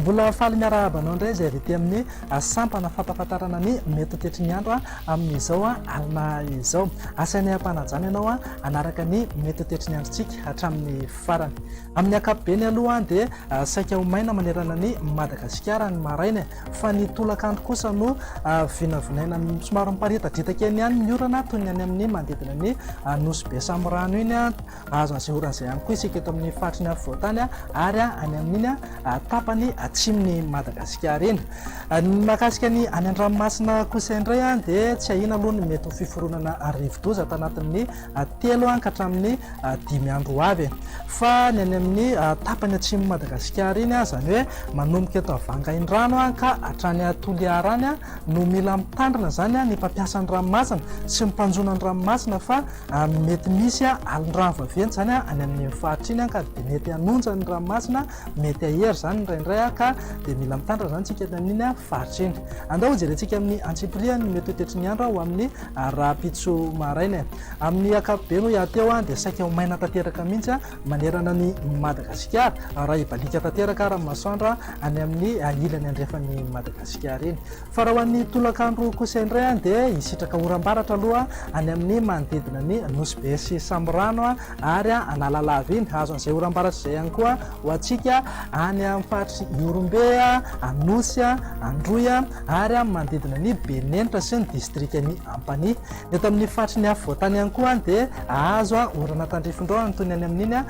Mbola faly miarahaba anao indray izay avy ety amin'ny ah, sampana fampafantarana ny mety tetry ny andro ah, amin'izao ah, alina izao. Asainay am-panajana ianao hanaraka ny mety tetry ny androntsika hatramin'ny farany. Amin'ny ankapobeny aloha dia saika ho maina manerana an'i Madagasikara ny maraina e, fa ny tolakandro kosa no vinavinaina somary miparitadritaka eny ihany ny orana toy ny any amin'ny manodidina ny Nosy be samy rano iny, azo asehoran' izay ihany koa isika eto amin'ny faritry ny afovoantany ary any amin'iny tapany atsimon'i Madagasikara iny. Ny mahakasika ny any an-dranomasina kosa indray dia tsy ahiana aloha ny mety ho fiforonana rivodoza tanatin'ny telo ka hatramin'ny dimy andro ho avy. Fa ny any amin'ny tapany atsimon'i Madagasikara iny, izany hoe manomboka eto Vangaindrano ka hatrany Toliara any, no mila mitandrina izany ny mpampiasa ny ranomasina sy ny mpanjono ny ranomasina fa mety misy alin-drano vaventy izany any amin'iny faritra iny ka dia mety hanonja ny ranomasina, mety hahery izany indraindray ka dia mila mitandrina izany isika any amin'iny faritra iny. Andao hojerentsika amin'ny antsipiriany ny mety ho tetry ny andro ho amin'ny Ary rahampitso maraina e! Amin'ny ankapobeny hoy aho teo dia saika ho maina tanteraka mihitsy manerana an'i Madagasikara, raha hibaliaka tanteraka ary ny masoandro any amin'ny ilany andrefan'i Madagasikara iny. Fa raha ho an'ny tolakandro kosa indray dia hisitraka oram-baratra aloha any amin'ny manodidina ny Nosy Be sy Samorano. ary Analalava iny, hahazo an'izay oram-baratra izay ihany koa ho antsika any amin'ny faritr'i Ihorombe, Anosy, Androy ary amin'ny manodidina an'i Benenitra sy ny distrikan'i Ampanihy. Ny eto amin'ny faritry ny afovoantany ihany koa dia hahazo orana tandrifin-drahona toy ny any amin'iny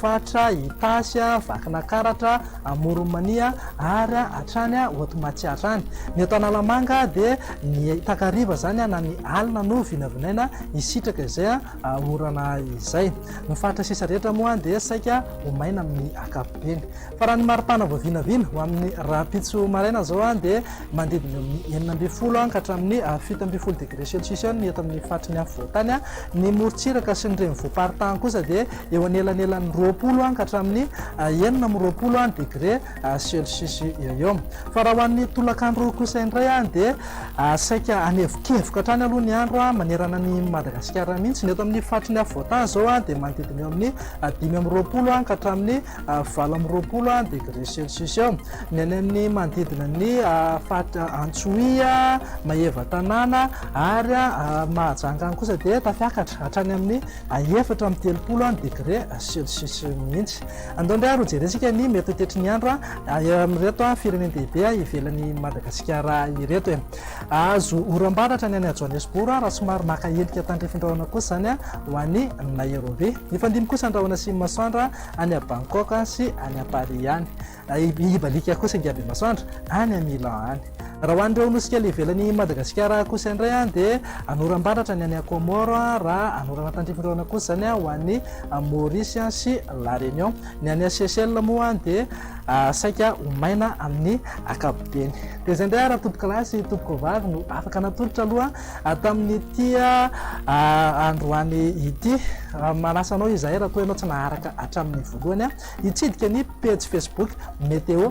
faritra Itasy, Vakinakaratra, Amoron'i Mania ary hatrany Hotomatsiatra any. Ny eto Analamanga dia ny takariva izany na ny alina no vinavinaina hisitraka izay. orana izay. Ny faritra sisa rehetra moa dia saika ho maina amin'ny ankapobeny. Fa raha ny maripana vao vinavina ho amin'ny rahampitso maraina izao dia manodidina eo amin'ny enina ambin'ny folo ka hatramin'ny fito ambin'ny folo degré celsius eo ny eto amin'ny faritry ny afovoantany. Ny morontsiraka sy ny renivohi-paritany kosa dia eo anelanelan'ny roapolo ka hatramin'ny enina amby roapolo degré. Celsius-eo. Fa raha ho an'ny tolakandro kosa indray dia saika hanevokevoka hatrany aloha ny andro manerana an'i Madagasikara mihitsy. Ny eto amin'ny faritry ny afovoantany izao dia manodidina eo amin'ny dimy amby roapolo ka hatramin'ny valo amby roapolo degré Celsius eo. Ny any amin'ny manodidina ny faritra Antsohihy, Maevatanàna ary Mahajanga any kosa dia tafiakatra hatrany amin'ny efatra amby telopolo degré Celsius mihitsy. Andao indray ary hojerentsika ny mety ho tetry ny andro amin'ireto firenen-dehibe ivelan'i Madagasikara ireto e. Hahazo oram-baratra ny any Johannesburg raha somary maka endrika tandrifindrahona kosa izany ho any Nairobi. Hifandimby kosa ny rahona sy ny masoandra any Bangkok sy any Paris any. Hibaliaka kosa ingahy Bemasoandra any Milan any. Raha ho an'ireo nosy kely ivelan'i Madagasikara kosa indray dia any oram-baratra ny any Comore, raha any orana tandrify indray orana kosa izany ho any Maurice sy La Réunion. Ny any Seychelles moa dia saika ho maina amin'ny ankapobeny. Dia izay indray ary tompokolahy sy tompokovavy no afaka natolotra aloha tamin'ity androany ity. Manasa anao izahay raha toa ianao tsy naharaka hatramin'ny voalohany hitsidika ny pejy Facebook Météo.